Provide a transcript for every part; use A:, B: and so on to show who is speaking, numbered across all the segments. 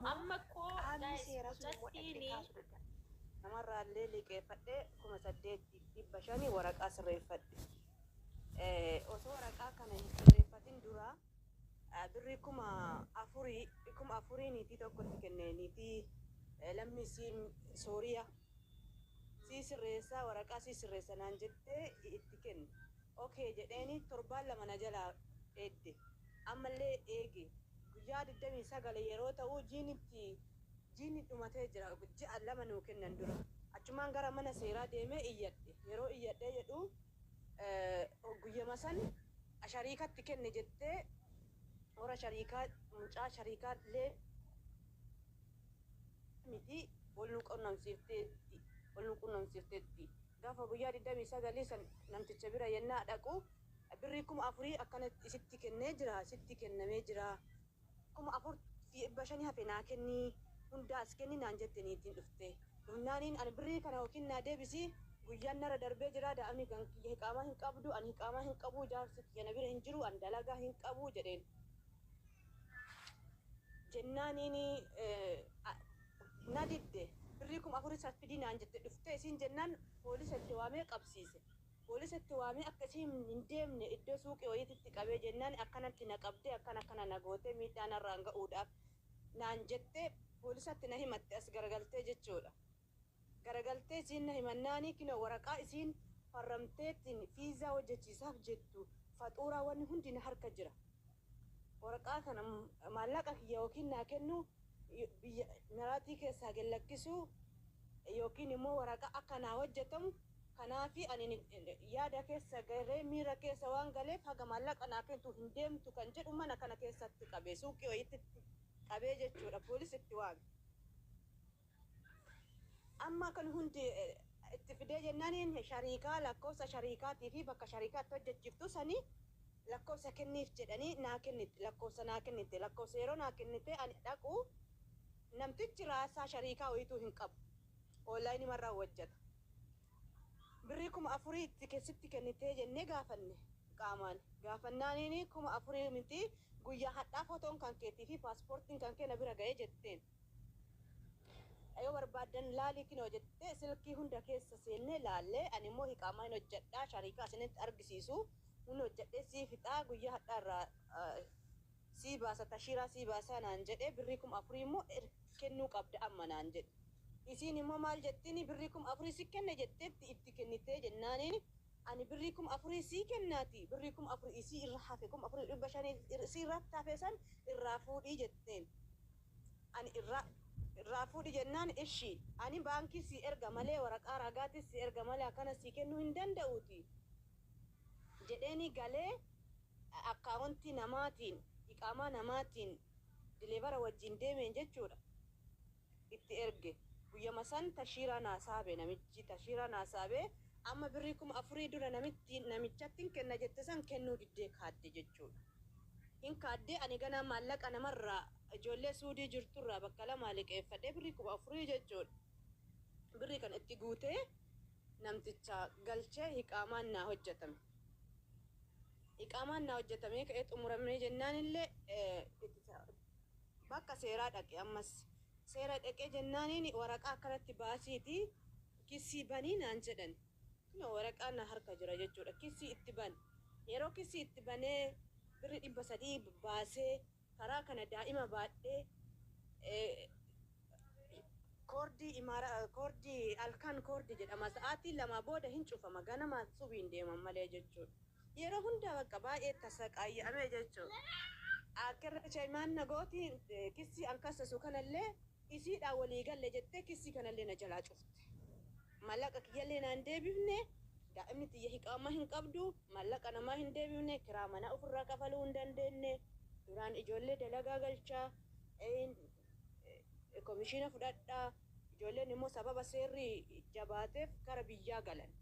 A: Ammoo Amma koo qaamni guys seeraa sun immoo dhaqxee mucattiini kaasuu dadhabde. Namarraallee liqeeffadhee kuma saddeetti fi dhibba shani waraqaa sirreeffadhe. Eh, Osoo waraqaa kana hin sirreeffatin dura ah, birrii kuma afurii kuma afurii niitii tokkotti kenne niitii eh, lammii siin Sooriyaa. sii sirreessa waraqaa sii sirreessa naan jettee itti kenne ok jedheeni torbaan lama na jalaa eegde ammallee eege guyyaa 29 yeroo ta'uu jiin itti jiini dhumatee jira ji'a lama nuu kennan dura achumaan gara mana seeraa deemee iyyadhe yeroo iyyadhee jedhu guyyama san shariikatti kenne jettee warra shariikaa mucaa shariikaa illee miti wal nu qunnamsiifteetti wal nu qunnamsiifteetti. Gaafa guyyaa 29 san namticha bira yennaa dhaqu birrii kuma afurii akkana isitti kennee jira sitti kennamee jira kuma afur fi dhibba shani hafe naa kenni hundaa as kenni naan jette niitiin dhufte dhufnaaniin ani birrii kana yookiin naa deebisi guyyaan narra darbee jira daa'imni kan kiyya hiqaamaa hin qabdu ani hiqaamaa hin qabu jaarsi kiyya na bira hin jiru ani dalagaa hin qabu jedheen. jennaaniini na didde birrii kuma afur isaaf fidii naan jette dhuftee isiin jennaan poolisa itti waamee qabsiise poolisa itti waamee akka isiin hin deemne iddoo suuqii wayiititti qabee jennaani akkanatti na qabdee akkana akkana na gootee miidhaa narraan ga'uudhaaf naan jettee poolisatti na himatte as garagaltee jechuudha. Garagaltee isiin na himannaani kinoo waraqaa isiin farramteettiin fiizaa hojjachiisaaf jettu faxuuraa wanni hundi na harka jira. Waraqaa kana maallaqa kiyya yookiin naa kennuu biyya Imiraatii keessaa gad lakkisuu yookiin immoo waraqaa akka naa hojjatamu kanaafi ani yaada keessa galee miira keessa waan galeef haga maallaqa naa kentu hin deemtu kan jedhu mana kana keessatti qabee suuqii wayiititti qabee jechuudha poolis itti waame. Amma kan hundi itti fidee jennaaniin shariikaa lakkoofsa shariikaatii fi bakka shariikaa itti hojjachiftu sanii lakkoofsa kenniif jedhanii naa kennitte lakkoofsa naa kennitte lakkoofsa yeroo naa kennitee ani dhaqu namtichi raasaa shariikaa wayituu hin qabu oonlaayinimarraa hojjata birrii kuma afurii itti sitti kennitee jennee gaafanne qaamaan gaafannaaniin kuma afurii mitii guyyaa hadhaa fotoon kan keetii fi paaspoortiin kan kee na bira ga'ee jetteen Yoo barbaaddan laalii kinoo jettee silkii hunda keessa seennee laallee ani immoo hiqaamaa hin hojjadhaa shariikaa isinitti argisiisuu hin hojjadhee sii fixaa guyyaa hadhaa irraa sii baasa tashiiraa sii baasaa naan jedhee birrii kuma afurii immoo kennuu qabda amma naan jedhe isiin immoo maal jettiini birrii kuma afurii si kenne jetteetti itti kennitee jennaaniini Ani birrii kuma afurii sii kennaatii, birrii kuma afur isii irra hafe, kuma afuriif dhibba shan isii irratti hafe san irraa fuudhi jetteen. Ani irraa irraa fuudhi jennaan ishi, ani baankii sii erga malee, waraqaa raagaatis sii erga malee akkana sii kennuu hin danda'uutii jedheenii galee akkaawontii namaatiin, iqaamaa namaatiin dileevara wajjiin deemeen jechuudha. itti erge guyyama san tashiiraa naa saabe namichi tashiiraa naa saabee amma birrii kuma afurii dura namittiin namichattin kenna jette san kennuu diddee kaadde jechuudha hin kaadde ani ganaa maallaqa namarraa ijoollee suudii jirturraa bakka lamaa liqeeffadhee birrii kuma afurii jechuudha birrii kana itti guutee namticha galchee hiqaamaan naa hojjatame hiqaamaan naa hojjatamee ka'ee xumuramee jennaanillee itti Bakka seeraa dhaqe ammas. Seera dhaqee jennaaniin waraqaa akkanatti baasiiti kissii bani naan jedhan. Kunoo waraqaan na harka jira jechuudha. Kissii itti bane. Yeroo kissii itti banee birri 300 baasee karaa kana daa'ima baadhee koordii imaara koordii halkan koordii jedhama sa'aatii lamaa booda hin cufama ganama subiin deeman malee jechuudha. Yeroo hunda bakka baay'ee itti saqaaya'ame jechu. Akka irra caymaan na gooti kissii an kassasu kanallee isiidhaan walii galle jettee kissii kanallee na jalaa cufte. Mallaqa kiyyallee naa hin deebifne, daa'imni tiyya hiqaama hin qabdu, mallaqa namaa hin deebifne, kiraa manaa ufirraa kafaluu hin dandeenne, duraan ijoollee dalagaa galchaa, komishiina fudhadhaa, Ijoolleen immoo sababa seerri jabaateef gara biyyaa galan.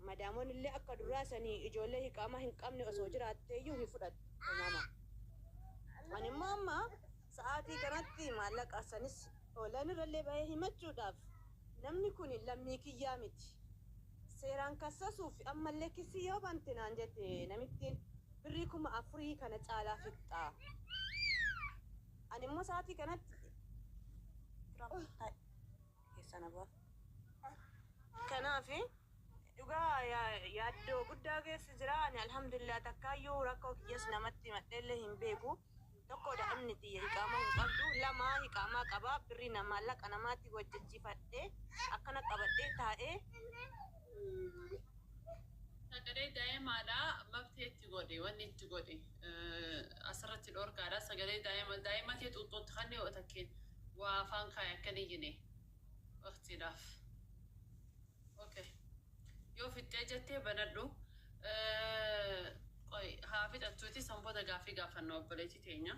A: Madaamonni illee akka duraa sanii ijoollee hiqaamaa hin qabne osoo jiraattee iyyuu hin fudhattu. Uumama. Ani immoo amma sa'aatii kanatti maallaqa sanis online irra illee bahee himachuudhaaf namni kuni lammii kiyyaa miti. Seeraan kassasuuf amma illee kissii yoo bante naan jette namittiin birrii kuma afurii kana caalaa fixxa. Ani immoo sa'aatii kanatti keessa na ba'a. Kanaaf dhugaa yaaddoo guddaa keessa jira. Ani alhamdulillah takkaayyuu rakkoo kiyyas namatti himadheellee hin beeku. Tokko daa'imni tiyya iqaamaa hin qabdu. Lama iqaamaa qaba. Birrii na maallaqa namaatiin hojjechifadhee akkana qabadhee taa'e. Sagalee
B: daa'imaadha mafti achi godhe wanni itti godhe. Asirratti dhorkaadha sagalee daa'ima daa'ima kee xuuxxootti kanni yoo takkeen waa afaan kaaye akka hin iyyine waqtiidhaaf okay yoo fixxee jettee banadhu qoy haa fixattuuti san booda gaaffii gaafanna obboleetti teenya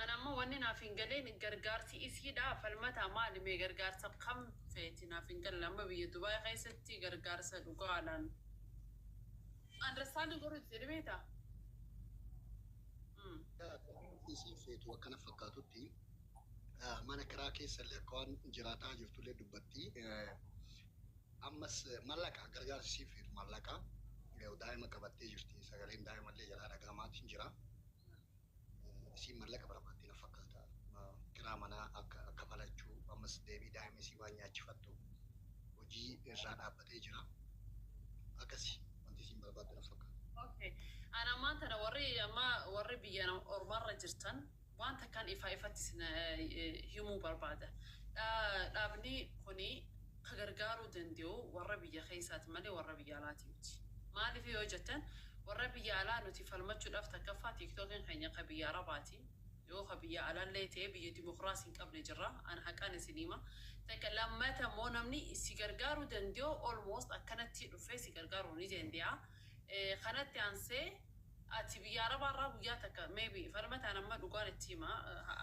B: an ammoo wanni naaf hin galeen gargaarsi isiidha falmataa maali mee gargaarsa kam feeti naaf hin galle amma biyya dubaay keessatti gargaarsa dhugaadhaan Understanding
C: warra itti jedhe beektaa? Mm. Akka isiin feetu akkana fakkaatutti eh, mana kiraa keessa illee akka waan jiraataa jirtu illee dubbatti. Eh, Ammas eh, mallaqa gargaarsi isiin feetu mallaqa Eh, daa'ima qabattee jirti sagaleen daa'ima illee jalaa dhaga'amaatiin jira. isiin mallaqa barbaaddi na fakkaata kiraa manaa akka kafalachuu ammas deebii daa'ima isii waan nyaachifattu hojii irraa dhaabbatee jira akkasi wanti isiin barbaaddu na
B: fakkaata. ok an ammaan tana warri amma warri biyya ormarra jirtan waan takkan ifaa ifatti isin himuu barbaada dhaabni kuni ka gargaaruu dande'u warra biyya keessaa ti malee warra biyya alaa tii miti. Maaliif yoo jettan, warra biyya alaa nuti falmachuudhaaf takkaffaa TikTokiin keenya ka biyya Arabaa ti, yoo ka biyya alaa illee ta'e biyya dimokraasii hin qabne jirra, an haqaan isinii hima, takka lammata immoo namni si gargaaruu dande'u almost akkanatti dhufee si gargaaruu ni dande'a, kanatti aansee. Ati biyya arabaa irraa guyyaa takka may be falmate an amma dhugaan itti hima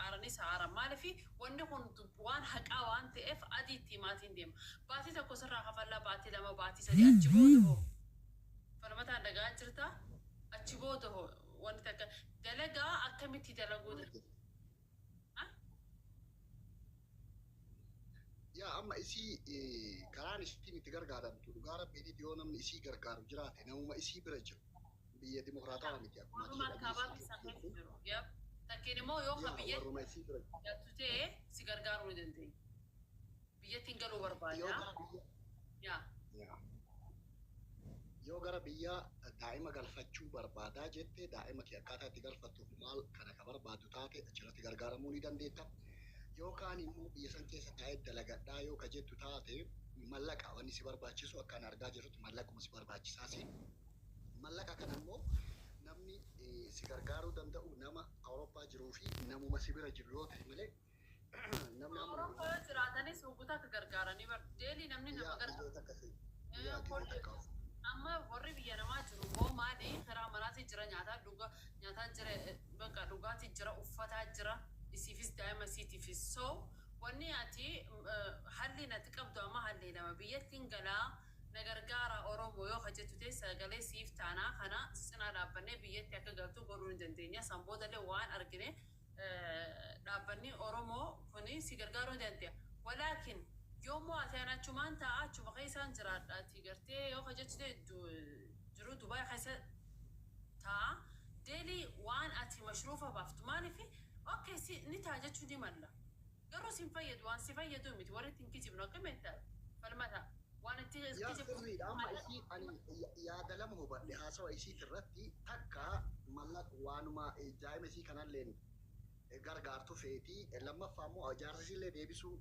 B: aaranis haa aaran maaliif wanni kun waan haqaa waan ta'eef adii itti himaatiin deema baatii tokko sirraa kafallaa baatii lama baatii sadii achi booda hoo falmataan dhaga'aa jirta achi booda hoo wanni takka dalagaa akkamitti dalaguu da Maal ha?
C: Yaa amma isii eh, karaan isiin itti gargaaramtu dhugaa rabbiin yoo namni isii gargaaru jiraate namuma isii bira jiru biyya dimokiraatawaa miti akkuma ati Oromummaan dhageessu kaabaatti jirtu safeef jechuun jiru. Yep.
B: Takkiin immoo yoo ka yaa biyya warruma isii bira jattu ta'e si gargaaruu ni dandeenya. Biyyattiin galuu yoo barbaada. gara biyya Yaa.
C: yaa yoo gara biyya daa'ima galfachuu barbaadaa jette daa'ima kee akkaataa itti galfattuuf maal kana ka barbaaddu taate achirratti gargaaramuu ni dandeetta. Yookaan immoo biyya san keessa taa'ee dalagadhaa yoo ka jettu taate mallaqa wanni si barbaachisu akka ani argaa jirutti mallaquma si barbaachisaa si Mallaqa kana immoo namni si gargaaruu danda'u nama Awurooppaa jiruu fi namuma si bira jiru yoo ta'e malee namni amma Awurooppaa yoo gurgurtu
B: jiraatanis hogguta akka gargaaranii bar deelii namni nama guyyaa gargaaru. guyyaa takka si guyyaa Eh, guyyaa takka of amma warri biyya namaa jiru immoo maali karaa maraatii jira nyaataa dhuga nyaataa jira eh, bakka dhugaatii jira uffataa jira isiifis daa'ima isiitiifis so wanni ati mm, eh, halliin ati qabdu amma hallii lama biyyattiin galaa Na gargaara Oromo yoo ka jettu ta'e sagalee siif taana. Kana si cinaa dhaabbannee biyyatti akka galtu godhuu ni dandeenya. San boodallee waan argine dhaabbanni Oromo kun si gargaaruu ni dande'a. Walaakin yoo mo'ate ani achumaan taa'a achuma keessaan jiraadha ati gartee yoo ka jettu ta'e jiruu Dubai keessa taa'a. Delhi waan ati mashruufa baaftu maaliif ok si ni ta'a jechuu ni malla. Garuu sin fayyadu waan si fayyadu miti warri itti hin kijibne ok mental falmata
C: waan itti Yaa kijibdu sirriidha amma maal isii ani ya- yaada lama hubadhe haasawa isiiti irratti takka mallaq waanuma eh, daa'ima isii kanalleen eh, gargaartu feeti Eh, lammaffaa immoo jaarsa isiillee deebisuu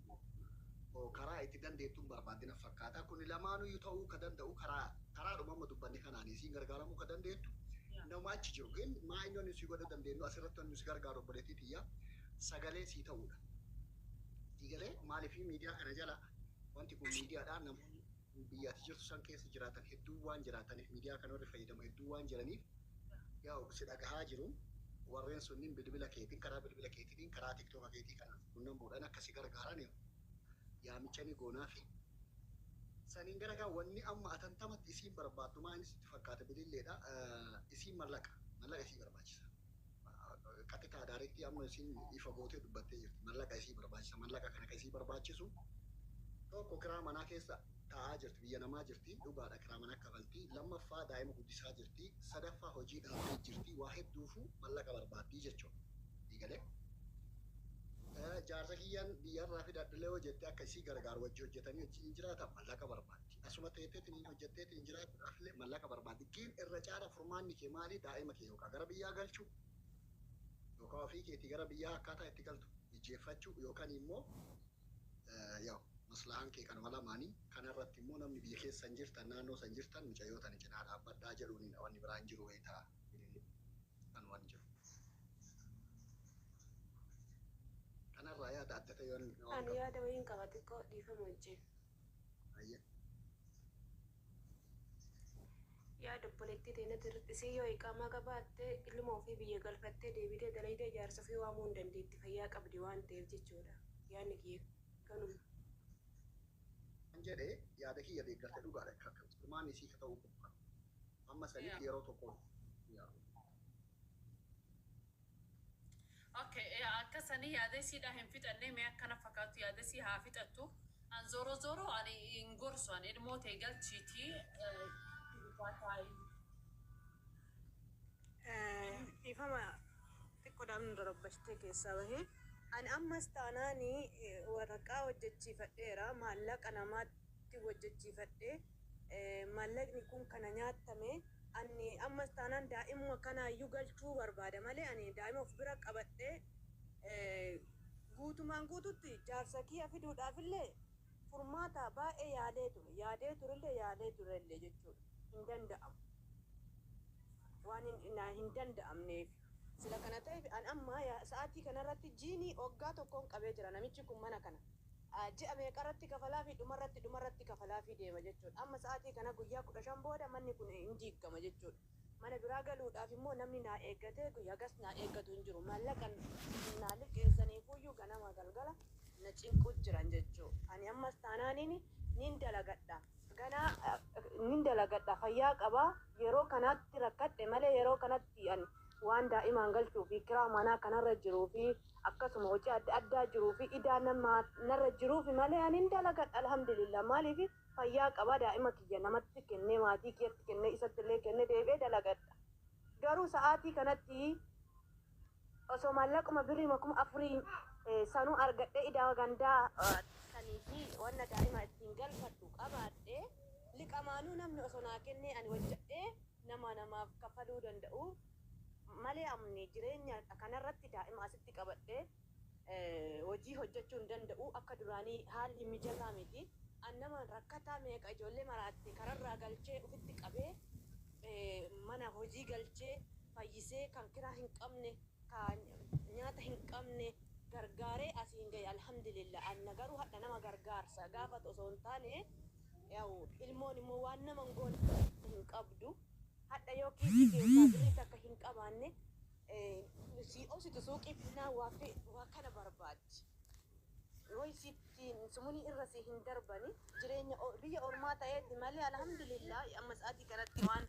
C: oh, karaa itti dandeettu hin barbaaddi naf fakkaata kuni lamaanuyyuu ta'uu ka danda'u karaa karaadhuma amma dubbanne kanaani isiin gargaaramuu ka dandeettu nama achi jiru gin maa inni wanni nusi godha dandeennu asirratti wanni nusi gargaaru obboleettii tiyya sagalee sii ta'uudha. Sii galee maaliif miidiyaa kana jala wanti kun miidiyaadha namoonni biyya ati jirtu san keessa jiraatan hedduun waan jiraataniif miidiyaa kana warri fayyadamu hedduun waan jiraniif yaa'u si dhagahaa jiru warreen sunniin bilbila keetiin karaa bilbila keetiin karaa tiktoka keetii kana qunnamuudhaan akka si gargaaran yaamicha ni goonaafi. Saniin garagaa wanni amma atantamatti isiin barbaaddu maa inni sitti fakkaata bililleedha isiin mallaqa mallaqa isii barbaachisa. qaxitaa daarektii amma isiin ifa gootee dubbattee jirti mallaqa isii barbaachisa mallaqa kana ka isii barbaachisu tokko kiraa manaa keessa taa'aa jirti biyya namaa jirti dhugaadha kiraa manaa kafalti lammaffaa daa'ima guddisaa jirti sadaffaa hojii dhaabdee jirti waa hedduufu mallaqa barbaaddii jechuudha eegalee jaarsa kiyyaan biyyarraa fidadhlee yoo jette akka isii gargaaru wajji hojjetanii wajjiin jiraatan mallaqa barbaada. Ati asuma teeteeti niin hojjatteetiin jiraachuudhaafillee mallaqa barbaaddi. Giin irra caala furmaanni kee maali? Daa'ima kee yookaa gara biyyaa galchuu yookaa ofii keetii gara biyyaa akkaataa itti galtu mijjeeffachuu yookanii immoo yaw maslahaan kee kanuma lamaanii. Kana irratti immoo namni biyya keessa san jirtan naannoo san jirtan mucayyoo tana cinaa dhaabbadhaa jedhuuniin wanni biraa hin jiru beektaa. Kan waan jiru. Kana irraa yaada adda ta'e yoo Ani yaada wayiin
D: qaba xiqqoo dhiifama wajjiin. Yaada obboleettii teenyatti hir'isii yoo iqaamaa qabaatte ilma ofii biyya galfattee deebitee dalaydee jaarsa ofii waamuu hin dandeetti fayyaa qabdi waan ta'eef jechuudha yaadni kiyya kanuma. Kan
C: jedhe yaada kiyya deeggarte dhugaadha furmaanni isii ka ta'uu qabu kana amma saniif yeroo tokkoon hin yaaduu.
B: Ok yaa akka sanii yaada isiidhaa hin fixannee mee akkana fakaatu yaada isii haa fixattu an zoro zoro ani hin gorsu an ilmoo tee galchiitii gurbaa taa'ii
A: Dhiifama xiqqoodhaan nu darabbashitee keessaa bahe. Ani ammas taanaan waraqaa hojjechiifadheera. Maallaqa namaatti hojjechiifadhee Maallaqni kun kana nyaattame anni ammas taanaan daa'imuma kanaayyuu galchuu barbaada malee ani daa'ima of bira qabadhee guutumaan guututti jaarsa kiyya fiduudhaafillee furmaata baay'ee yaalee ture yaadee turellee yaalee turellee jechuudha hin danda'amu waan naa hin danda'amneef. Sila kana ta'eef an amma sa'aatii kanarratti jiinii oggaa tokkoon qabee jira namichi kun mana kana. Ji'a meeqarratti kafalaafii? Dhumarratti dhumarratti kafalaafii deema jechuudha. Amma sa'aatii kana guyyaa 15 booda manni kun hin diiggama jechuudha. Mana biraa galuudhaaf immoo namni naa eeggatee guyyaa hagas naa eeggatu hin jiru. Maallaqan naa liqeessaniifuyyuu ganama galgala na cinquu jiran jechuu. Ani ammas taanaaniin nin dalagadha. Ganaa nin dalagadha. Fayyaa qaba. Yeroo kanaatti rakkadhe malee yeroo kanatti ani waan daa'imaan galchuufi kiraa manaa kanarra jiruufi akkasuma hojii adda addaa jiruufi idaa namaa narra jiruufi malee ani hin dalagadha alhamdulillah maaliifi fayyaa qaba daa'ima kiyya namatti kennee maatii kiyyatti kennee isatti illee kennee deebi'ee dalagadha garuu sa'aatii kanatti osoo maallaquma birriima kuma afurii sanuu argadhee idaa gandaa sanii fi wanna daa'ima ittiin galfadhu qabaadhe liqamaanuu namni osoo naa kennee ani hojjadhee nama namaaf kafaluu danda'u malee amni jireenya kanarratti daa'ima asitti qabadhee hojii hojjachuu hin danda'u akka duraanii haalli mijataa miti an nama rakkataa meeqa ijoollee maraatte kararraa galchee ufitti qabee mana hojii galchee fayyisee kan kiraa hin qabne ka nyaata hin qabne gargaaree asiin gahe alhamdulillah anna garuu hadha nama gargaarsa gaafatu osoo hin taane yaw ilmoon immoo waan nama hin goone hin qabdu hadha yoo kiisii keessaa birrii takka hin qabaanne sii obsitu suuqii finnaan waa fi waa kana barbaaddi way sitti sumunii irra si hin darbani jireenya o- biyya ormaa ta'eeti malee alhamdulillah amma sa'aatii kanatti waan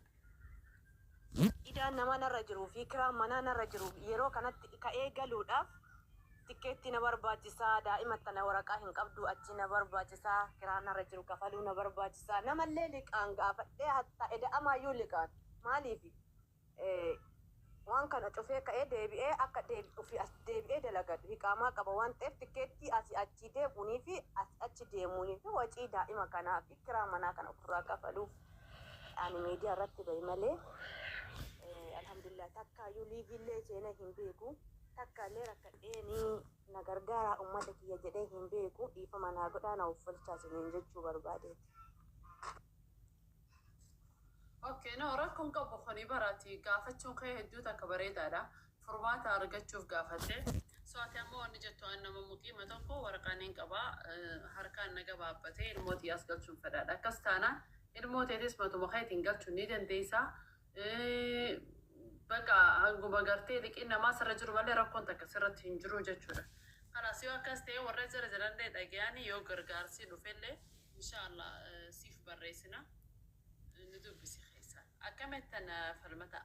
A: idaan namaa narra jiruu fi kiraan manaa narra jiru yeroo kanatti ka'ee galuudhaaf Tikkeettii na barbaachisa, daa'ima tana waraqaa hin qabdu achii na barbaachisa, kiraa narra jiru kafaluu na barbaachisa, namallee liqaan gaafadhee hattaa eda'amaayyuu liqaan maaliifi waan kana cufee ka'ee deebi'ee akka ofii as deebi'ee dalagadu hiqaamaa qaba waan ta'eef tikkeettii asii achii deemuunii fi asii achi deemuunii fi wacii daa'ima kanaa fi kiraa manaa kana ofirraa kafaluuf ani miidiyaa irratti bahe malee alhamdulillah takkaayyuu liiviillee seenee hin beeku. Takka illee rakkadhee ni na gargaaraa ummata kiyya jedhee hin beeku dhiifama naa godhaa na offolchaa isiniin jechuu barbaadeeti.
B: Ok no rakko hin qabu kuni bara ati gaafachuun kee hedduu takka bareedaadha furmaata argachuuf gaafatte so ati amma wanni jettu an nama muqiima tokko waraqaa nin qaba harkaan na gabaabbate ilmoo tiyyaas galchuun fedhaadha akkas taanaan ilmoo teetis matuma keetiin galchuu ni dandeeysa Eh, Baqa hanguma gartee liqiin namaa sirra jiru malee rakkoon takka sirratti hin jiru jechuudha. Kanaas yoo akkas ta'e warra jira jiranillee dhagayanii yoo gargaarsii dhufellee inshaallah eh, siif barreessina eh, nu dubbisi keessaan. Akkamittan eh, falmataa?